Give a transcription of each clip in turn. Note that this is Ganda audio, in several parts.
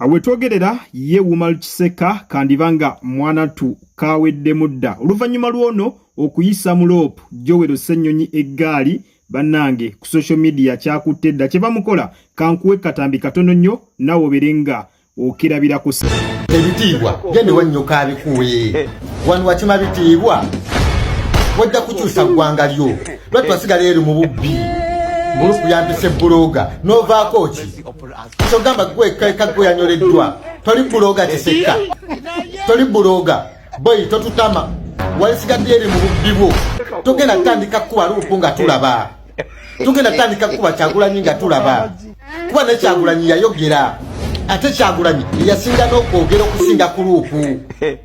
Awetogerera ye Umar Kiseka kandiba nga mwanatu kaweddemu dda oluvannyuma lw'ono okuyisa mu loopu Joel Ssenyonyi eggaali bannange ku social media kyakutte dda kye bamukola kankuwe katambi katono nnyo nawe obere nga okirabirako ebitiibwa gende wannyoka abikuwe wano wakima bitiibwa wajja kukyusa ggwanga lyo lwatwasigala eri mu bubbi mulukuyambisa ebbuloga novaako ki Kyogamba gwe kaka gwe yanyoleddwa. Toli buloga kisekka. Toli buloga. Boy totutama. Walisigadde eri mu bubbi bwo. Togenda tandika kuba lupu nga tulaba. Togenda tandika kuba kyagulanyi nga tulaba. Kuba ne kyagulanyi yayogera. Ate kyagulanyi yasinga n'okwogera okusinga ku lupu.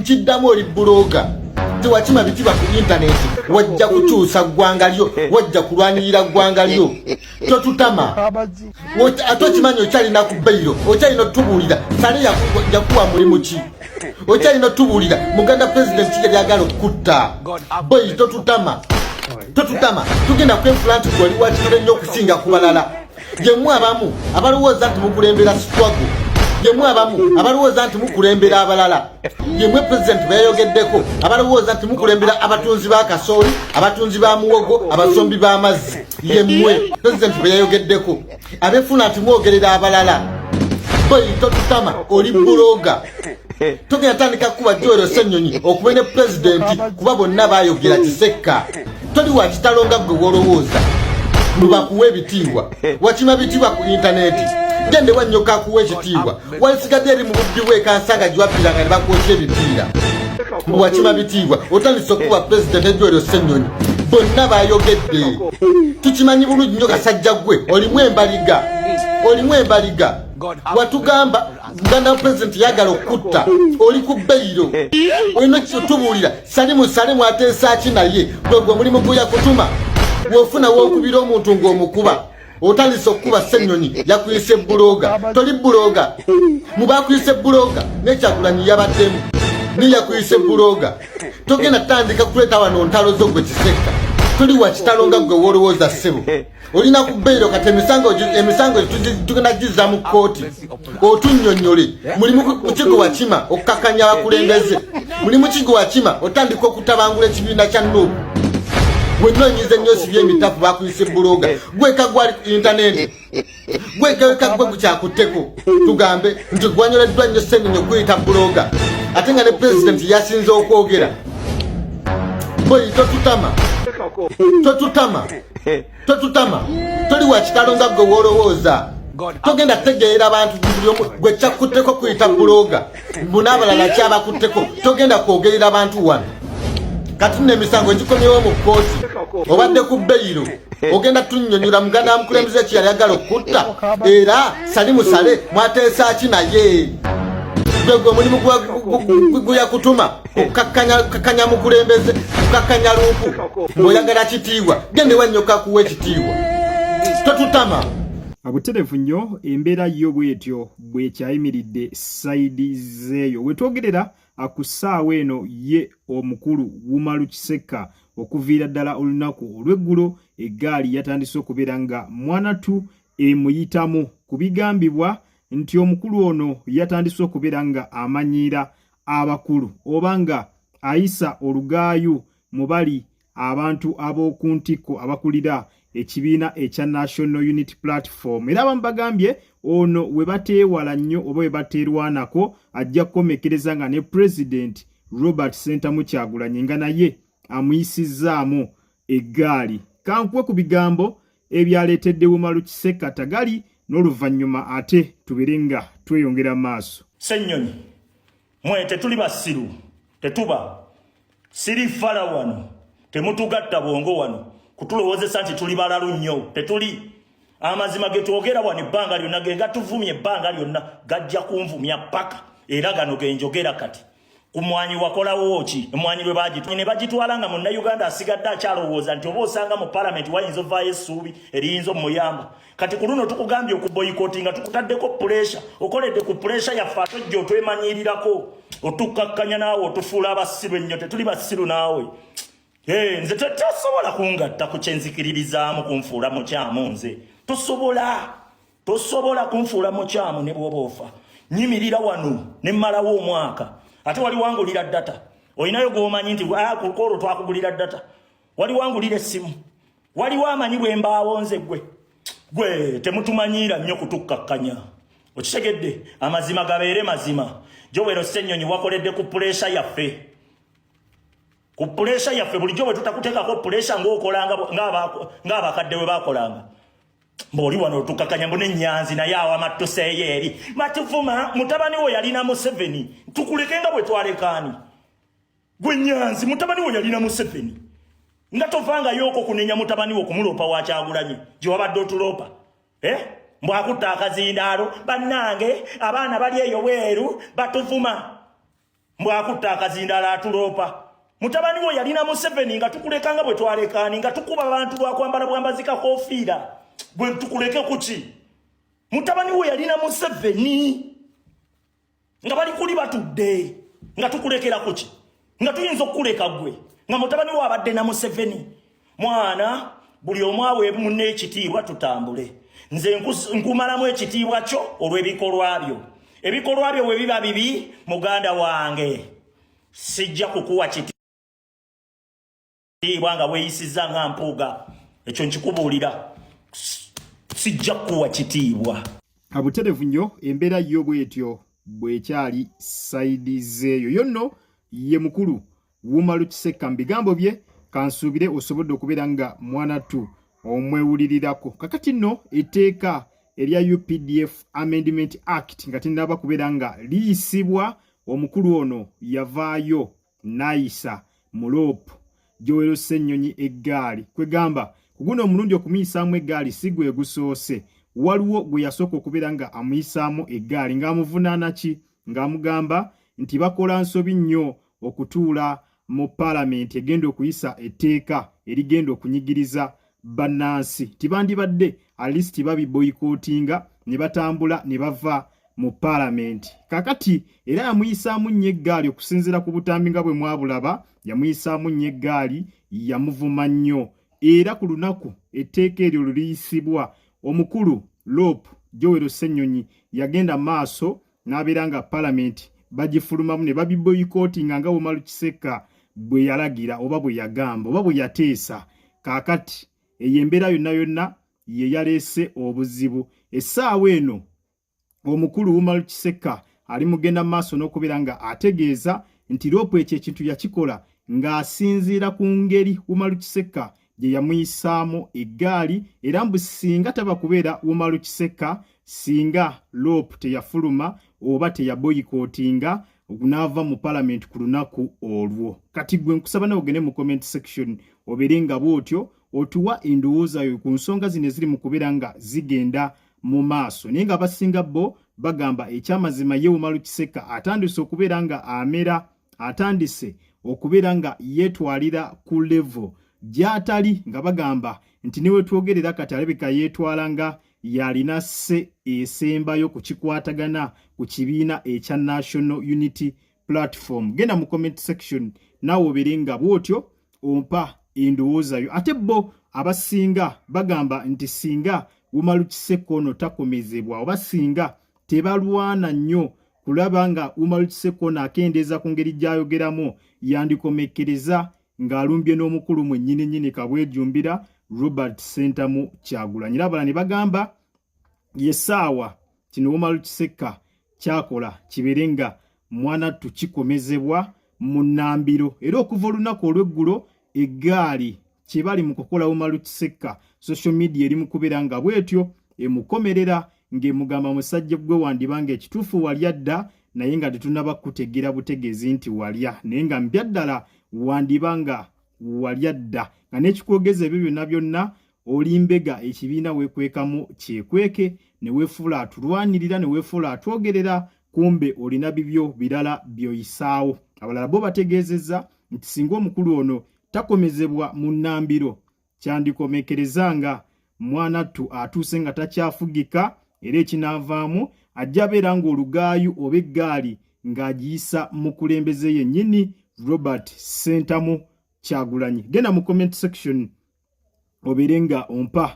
nkiddamu oli buloga tewakima bitiba ku intaneti wajja kukyusa ggwanga lyo wajja kulwanirira ggwanga lyo totutama ate okimanyi okyalina ku bairo okyalina otubuulira sale yakuwa mulimu ki okyalina otubuulira muganda president kija lyagala okukutta boi totutama totutama tugenda kwefula nti gwali wakitule nnyo okusinga ku balala Jemwe abamu abalowooza nti mukulembera struggle. Jemwe abamu abalowooza nti mukulembera abalala. Jemwe president beyogeddeko abalowooza nti mukulembera abatunzi ba kasooli, abatunzi ba muwogo, abasombi ba mazzi. Yemwe president beyogeddeko abefuna nti mwogerera abalala. Boy totutama oli buloga. togenda tandika kukuba joero senyonyi okube ne pulezidenti kuba bonna bayogera kisekka toli wa kitalo nga gwe wolowooza lubakuwa ebitiibwa wakima bitiibwa ku intaneti gende wanyoka kuwa ekitiibwa walisigadde eri mu bubbi bwekansanga giwabbiranga ne bakwokya ebipiira wakima bitiibwa otandise okukuba pulezidenti ejoero senyonyi bonna bayogedde tukimanyi bulungi nyo kasajja gwe olimu embaliga olimu embaliga watugamba Uganda president yagala okutta oli ku beyiro olina kitubuulira salimu salimu ateesa ki naye gwe gwe mulimu guya kutuma wofuna wokubira omuntu ng'omukuba otandise okukuba ssenyonyi yakuyisa ebbuloga toli bbuloga mubakuyisa ebbuloga nekyagulanyi yabaddemu ni yakuyisa ebbuloga togenda tandika kuleeta wano ntalo zo gwe kisekka tuli wakitalo nga gwe wolowooza ssebo olina ku beyiro kati emisango emisango tugenda gizza mu kkooti otunnyonnyole mulimu mukigo wakima okukakanya abakulembeze mulimu kigo wakima otandika okutabangula ekibiina kya nuubu wenna onyize nnyo sibi emitafu bakuyise buloga gweka gwali ku intaneti gwekaweka gwe gukyakutteko tugambe nti gwanyoleddwa nnyo senenyo kuyita buloga ate nga ne pulezidenti yasinze okwogera boyi totutama totutama totutama toli wakitalo nga gwe wolowooza togenda tegeera abantu gwe kyakkutteko kuyita bulooga mbu n'abalala kyabakutteko togenda kwogerera bantu wano kati nno emisango gikomyewo mu kkooti obadde ku beyiro ogenda tunyonyola muganda wa mukulembeze ekiyali agala okutta era sali musale mwateesa ki naye gwegwe omulimu guyakutuma okukakanya mukulembeze okukakanya luuku ngaoyagala kitiibwa gendewa nnyo kakuwa ekitiibwa totutama abuterevu nnyo embeera yo bwetyo bwekyayimiridde saidi zeeyo wetwogerera ku ssaawa eno ye omukulu wumalu kisekka okuviira ddala olunaku olw'eggulo eggaali yatandise okubeera nga mwanatu emuyitamu ku bigambibwa nti omukulu ono yatandise okubeera nga amanyiira abakulu oba nga ayisa olugaayu mu bali abantu ab'oku ntikko abakulira ekibiina ekya National Unity Platform era abamu bagambye ono we bateewala nnyo oba we bateerwanako ajja kukomekkereza nga ne pulezidenti Robert Sentamu Kyagulanyi nga naye amuyisizzaamu eggaali kankuwe ku bigambo ebyaleetedde Umaru Kisekka Tagali n'oluvannyuma ate tubere nga tweyongera maaso. Ssennyonyi, mwe tetuli basiru, tetuba siri fala wano, temutugatta bwongo wano kutulowozesa nti tuli balalu nnyo, tetuli amazima ge twogera wano ebbanga lyonna ge gatuvumya ebbanga lyonna gajja kunvumya ppaka era gano ge njogera kati. ku mwanyi wakolawo ki emwanyi lwe bagitwala ne bagitwala nga munnayuganda asigadde akyalowooza nti oba osanga mu palamenti wayinza ovaayo essuubi eriyinza omuyamba kati ku luno tukugambye okuboyikoti nga tukutaddeko puresha okoledde ku puresha yaffe atojja otwemanyiirirako otukkakkanya naawe otufuula abasiru ennyo tetuli basiru naawe nze tetasobola kungatta ku kyenzikiririzaamu kunfuula mukyamu nze tosobola tosobola kunfuula mukyamu ne bwoba ofa nyimirira wano ne mmalawo omwaka ate wali wangulira data olinayo gwomanyi nti ah, kukoolo twakugulira data wali wangulira essimu waliwo amanyi bwe mbaawo nze gwe gwe temutumanyiira nnyo kutukkakkanya okitegedde amazima gabeere mazima jowero ssennyonyi wakoledde ku puleesha yaffe ku puleesha yaffe bulijjo bwe tutakuteekako puleesha ng'okolanga ng'abakadde bwe bakolanga mbooli wano tukakanya mbu nenyanzi naye awama tuseeyo eri matuvuma mutabani wo yalina museveni tukuleke nga bwe twalekaani gwe nyanzi mutabani wo yalina museveni nga tovangayo oko kunenya mutabani wo kumuloopa wakyagulanyi gye wabadde otuloopa eh? mbu akutta akazindaalo bannange abaana bali eyo weeru batuvuma Mbwakutte akazindaala atuloopa. Mutabani wo yalina Museveni nga tukuleka nga bwe twalekaani nga tukuba abantu lwakwambala bwambazi kakofiira gwe tukuleke kuki mutabani wo yalina Museveni nga bali kuli batudde nga tukulekera kuki nga tuyinza okukuleka gwe nga mutabani wo abadde na Museveni mwana buli omu aweebu munne ekitiibwa tutambule nze nkumalamu ekitiibwa kyo olw'ebikolwa byo ebikolwa byo bwe biba bibi muganda wange sijja kukuwa kitiibwa nga weeyisizza nga mpuuga ekyo nkikubuulira sijja kukuwa kitiibwa abuterevu nnyo embeera yo bwetyo bwekyali saidi zeeyo yo nno ye mukulu Wumalu Kisekka mu bigambo bye kansuubire osobodde okubeera nga mwanatu omwewulirirako kakati nno etteeka erya updf amendment act nga tinaba kubeera nga liyisibwa omukulu ono yavaayo nayisa muloopu gyowero ssennyonyi eggaali kwegamba kuguno omulundi okumuyisaamu eggaali si gwe gusoose waliwo gwe yasooka okubeera nga amuyisaamu eggaali ng'amuvunaana ki ng'amugamba nti bakola nsobi nnyo okutuula mu paalamenti egenda okuyisa etteeka erigenda okunyigiriza bannansi tibandibadde alist babiboyikootinga ne batambula ne bava mu paalamenti kakati era yamuyisaamu nnyo eggaali okusinziira ku butambi nga bwe mwabulaba yamuyisaamu nnyo eggaali yamuvuma nnyo era ku lunaku etteeka eryo luliyisibwa omukulu loopu jowero ssenyonyi yagenda maaso n'abeera nga palamenti bagifulumamu ne babiboyikootinga nga Umaru Kisekka bwe yalagira oba bwe yagamba oba bwe yateesa kaakati eyo embeera yonna yonna ye yaleese obuzibu essaawa eno omukulu Umaru Kisekka ali mugenda mu maaso n'okubeera nga ategeeza nti loopu ekyo ekintu yakikola ng'asinziira ku ngeri Umaru Kisekka gye yamuyisaamu eggaali era mbu singa taba kubeera Umaru Kisekka singa loop teyafuluma oba teyaboyikootinga okunaava mu palamenti ku lunaku olwo kati gwe nkusaba nawe ogende mu comment section obeere nga bwotyo otuwa endowooza yo ku nsonga zino eziri mu kubeera nga zigenda mu maaso naye nga abasinga bo bagamba ekyamazima ye umalu kiseka atandise okubeera nga amera atandise okubeera nga yeetwalira ku levo gy'atali nga bagamba nti ne wetwogerera kati alabika yeetwala nga yalina sse esembayo ku kikwatagana ku kibiina ekya national unity platform genda mu comment section naawe obeere nga bw'otyo ompa endowoozayo ate bo abasinga bagamba nti singa wumalukisekko ono takomezebwa oba singa tebalwana nnyo kulaba nga Umar Kisekona akendeeza ku ngeri gy'ayogeramu yandikomekkereza ng'alumbye n'omukulu mwennyini nnyini kabwejumbira Robert Sentamu Kyagulanyi labala ne bagamba ye saawa kino Umar Kisekka kyakola kibeere nga mwana tukikomezebwa mu nnambiro era okuva olunaku olw'eggulo eggaali kyebali mu kukola Umaru Kisekka social media eri mu kubeera nga bwetyo emukomerera ng'emugamba musajja gwe wandiba nga ekituufu walya dda naye nga tetunaba kukutegeera butegeezi nti walya naye nga mpya ddala wandiba nga walya dda nga n'ekikwogeza ebyo byonna byonna oli mbega ekibiina weekwekamu kyekweke ne weefuula atulwanirira ne weefuula atwogerera kumbe olina bibyo birala by'oyisaawo abalala bo bategeezezza nti singa omukulu ono takomezebwa mu nnambiro kyandikomekereza nga mwanattu atuuse nga takyafugika era ekinaavaamu ajja beera ng'olugaayu oba eggaali ng'agiyisa mukulembeze yennyini robert sentamu kyagulanyi genda mu comment section obeere nga ompa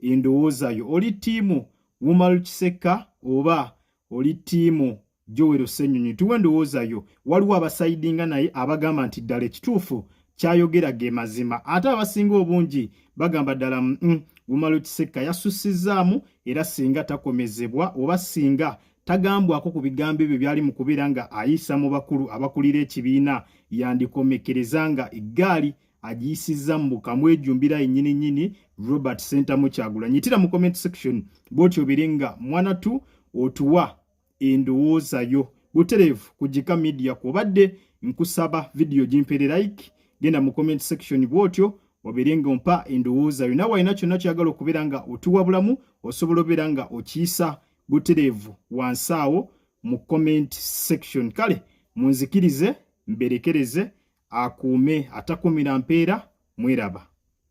endowooza yo oli ttiimu wumal kisekka oba oli tiimu jowero senyonyi tuwe endowooza yo waliwo abasaidinga naye abagamba nti ddala ekituufu kyayogera ge mazima ate abasinga obungi bagamba ddala mm, mm gumalo kisekka yasussizaamu era singa takomezebwa oba singa tagambwako ku bigambo ebyo byali mu kubeera nga ayisa mu bakulu abakulira ekibiina yandikomekkereza nga eggaali agiyisizza mu bukamu ejumbira yennyini nnyini robert sentamu kyagula nyitira mu comment section bwoti obere nga mwana tu otuwa endowooza yo butereevu ku jika media kwobadde nkusaba vidiyo gimpere like genda mu comment section bwotyo obere nga ompa endowooza yo nawe alina kyonna kyagala okubeera nga otuwa bulamu osobola obeera nga okiyisa butereevu wansi awo mu comment section kale munzikirize mberekereze akuume atakumira mpeera mweraba.